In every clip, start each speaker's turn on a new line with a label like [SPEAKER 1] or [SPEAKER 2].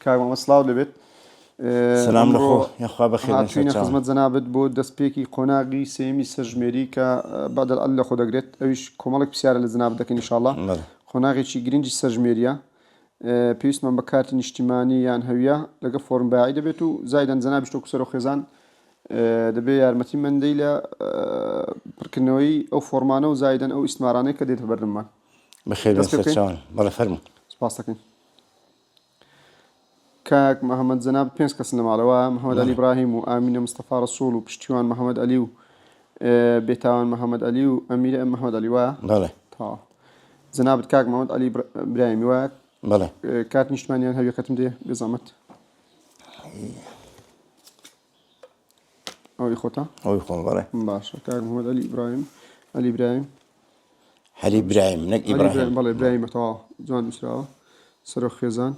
[SPEAKER 1] کاک مامە سڵاو لێبێت سلام
[SPEAKER 2] لە خۆ یخوا بەخێر هاتوینە خزمەت جەنابت
[SPEAKER 1] بۆ دەستپێکی قۆناغی سێمی سەرژمێری کە بەدەل ئەل لە خۆ دەگرێت ئەویش کۆمەڵک پرسیارە لە جناب دەکەین انشاءالله قۆناغێکی گرنگی سەرژمێریە پێویستمان بە کارتی نیشتیمانی یان هەویە لەگە فۆرم باعی دەبێت و زایدەن جەنابیش تۆ کوسەر و خێزان دەبێ یارمەتی مندەی لە پڕکردنەوەی ئەو فۆرمانە و زایدەن ئەو ئیسمارانەی کە دێتە بەردممان بەخێر
[SPEAKER 2] بەڵە فەرمو سپاس دەکەین
[SPEAKER 1] کاک محمد جەنابت پێنج کەسن لە ماڵەوە محمد علی ابراهیم و ئامینە مستەفا رسول و پشتیوان محمد علی و بێتاوان محمد علی و ئەمیر محمد علی وە جەنابت کاک محمد علی براهیمی وە
[SPEAKER 2] کات نیشتمانیان
[SPEAKER 1] هەویەکەتم دێ بزەمت ئەوەی خۆتە ئەوەی خۆم بەڵێ
[SPEAKER 2] باشە کاک محمد
[SPEAKER 1] علی ئیبراهیم علی براهیم هەلی
[SPEAKER 2] برایم نەک ئیبراهیم بەڵێ برایمەتەوە
[SPEAKER 1] جوان نووسراوە سەرۆ خێزان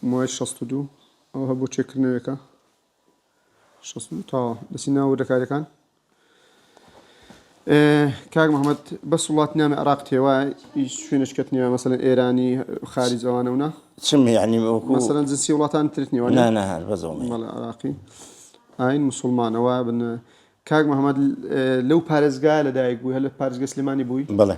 [SPEAKER 1] موای 62 ئەوە بۆ چێکردنەوەکە تاوە دەسی ناوە دەکارەکان کاک محمد بەس وڵات نامە عراق تێوا شوێنش کەت نیە مەسەن ئێرانی خارج ئەوانەونا چم یعنی
[SPEAKER 2] مەسەن جنسی وڵاتان
[SPEAKER 1] ترت نیوە
[SPEAKER 2] عراقی
[SPEAKER 1] ئاین مسلمانەوە بن کاک محمد لەو پارێزگا لەدایک بوو هەل پارێزگە سلێمانی بووی بڵێ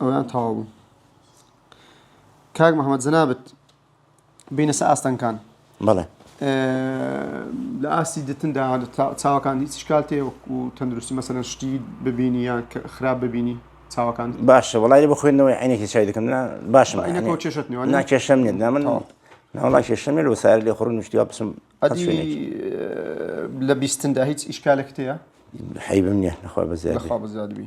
[SPEAKER 1] ئەویان تەواو بوو کاک محەممەد جەنابت بینە سە ئاستەنکان بەڵێ لە ئاستی دتندا چاوەکان هیچ شکال تێ وەکو تەندروستی مەسەن شتی ببینی یان خراپ ببینی چاوەکان باشە وڵی بە خوێندنەوەی
[SPEAKER 2] عینێکی چای دەکەم باشم کێشت
[SPEAKER 1] ناکێشم نێت نامن
[SPEAKER 2] ناوڵا کێشم لە سار لێ خڕ نوشتیوا بچم
[SPEAKER 1] لە بیستندا هیچ ئیشکالێک تەیە حیبم نیە
[SPEAKER 2] نەخوا بەزیاد بەزیادبی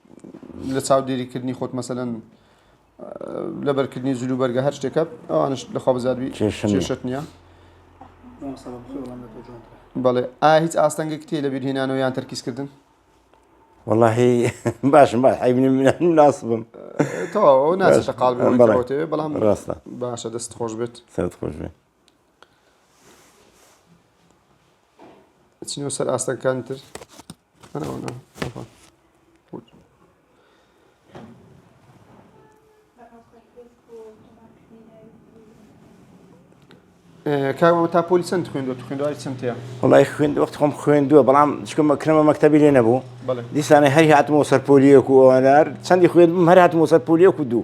[SPEAKER 1] لە چاودێری کردنی خۆت مەسەلەن لەبەرکردنی جلو بەرگە هەر شتێکە ئەوانش لە خۆبزاربی کێشت نییە بەڵێ ئا هیچ ئاستەنگێک تێ لە بیرهێنانەوە یان تەرکیزکردن واللهی
[SPEAKER 2] باشم باش حیبنی من ناس بم تەواو
[SPEAKER 1] ناچێتە قاڵ بەڵام ڕاستە باشە
[SPEAKER 2] دەست خۆش
[SPEAKER 1] بێت سەرت خۆش بێت چینەوە سەر ئاستەکان تر کاوە تا پۆلی چەند خوێندوە خوێندوای چەندەیە وڵی خوێند وەخت
[SPEAKER 2] خۆم خوێندووە بەڵام چکمە کرمە مەکتتەبی لێ نەبوو دیسانە هەر
[SPEAKER 1] هاتمەوە
[SPEAKER 2] سەرپۆلیەک و ئەوانار چەندی خوێندم هەر هاتمەوە سەرپۆلیەک و دوو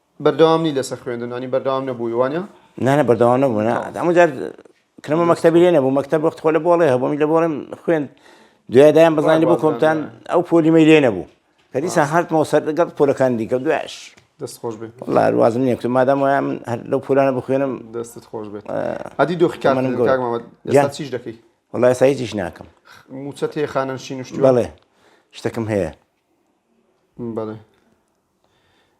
[SPEAKER 1] بەردەوام نی لەسەر خوێندن ئەنی بەردەوام نەبووی وانە؟ نانە بەردەوام نەبوو
[SPEAKER 2] نا ئەمە جار کرمە مەکتتەبی لێ نەبوو مەکتتەب وەخت خۆ لە بۆڵێ هەبوومی لە بۆڵێم خوێن دوێدایان بزانانی بۆ کۆمتان ئەو پۆلیمەی لێ نەبوو کە دیسان هاتمەوە سەر لەگەڵ پۆلەکان دیکە دوایش دەست خۆش بێت
[SPEAKER 1] لاروازم نیە کتم
[SPEAKER 2] مادام وایە من هەر لەو پولانە بخوێنم دەستت خۆش بێت
[SPEAKER 1] ئەدی دۆخکان من گەڵ چیش دەکەی وڵای سایتیش
[SPEAKER 2] ناکەم موچە تێ خانەن
[SPEAKER 1] شینشت بڵێ
[SPEAKER 2] شتەکەم هەیە
[SPEAKER 1] بڵێ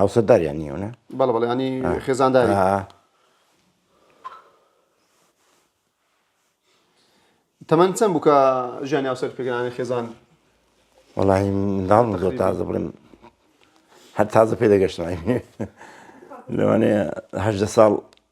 [SPEAKER 2] هاوسەرداریان نیە نا؟ بەڵێ بەڵێ ینی
[SPEAKER 1] خێزانداری تەمەن چەند بووکە ژیانی هاوسەر پێگرانی خێزان وڵی
[SPEAKER 2] منداڵ زۆر تازە بڵێم هەر تازە پێ دەگەشتنای لەوانەیە هەدە ساڵ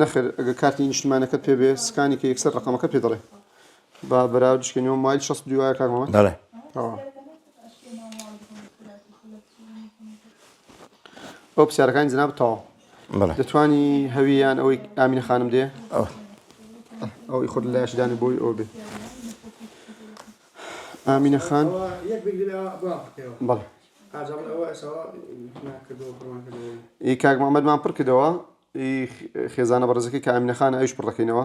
[SPEAKER 1] نەخێر ئەگە کارتی نیشتمانەکەت پێ بێ سکانی کە یەکسەر ڕقەمەکە پێ دەڵێ با بەراو دشکێنەوە مایل شەست دوایە کارمەوە دەڵێ ئەو پرسیارەکانی جناب تەواو بەڵێ دەتوانی
[SPEAKER 2] هەوی
[SPEAKER 1] یان ئەوەی ئامینە خانم دێ ئەو ئەوەی خۆت لایش دانێ بۆی ئەو بێ ئامینە خان بەڵ ئی کاک محمدمان پڕ کردەوە خێزانە بەڕزەکەی کە ئامینە خانە ئەوش پڕەکەینەوە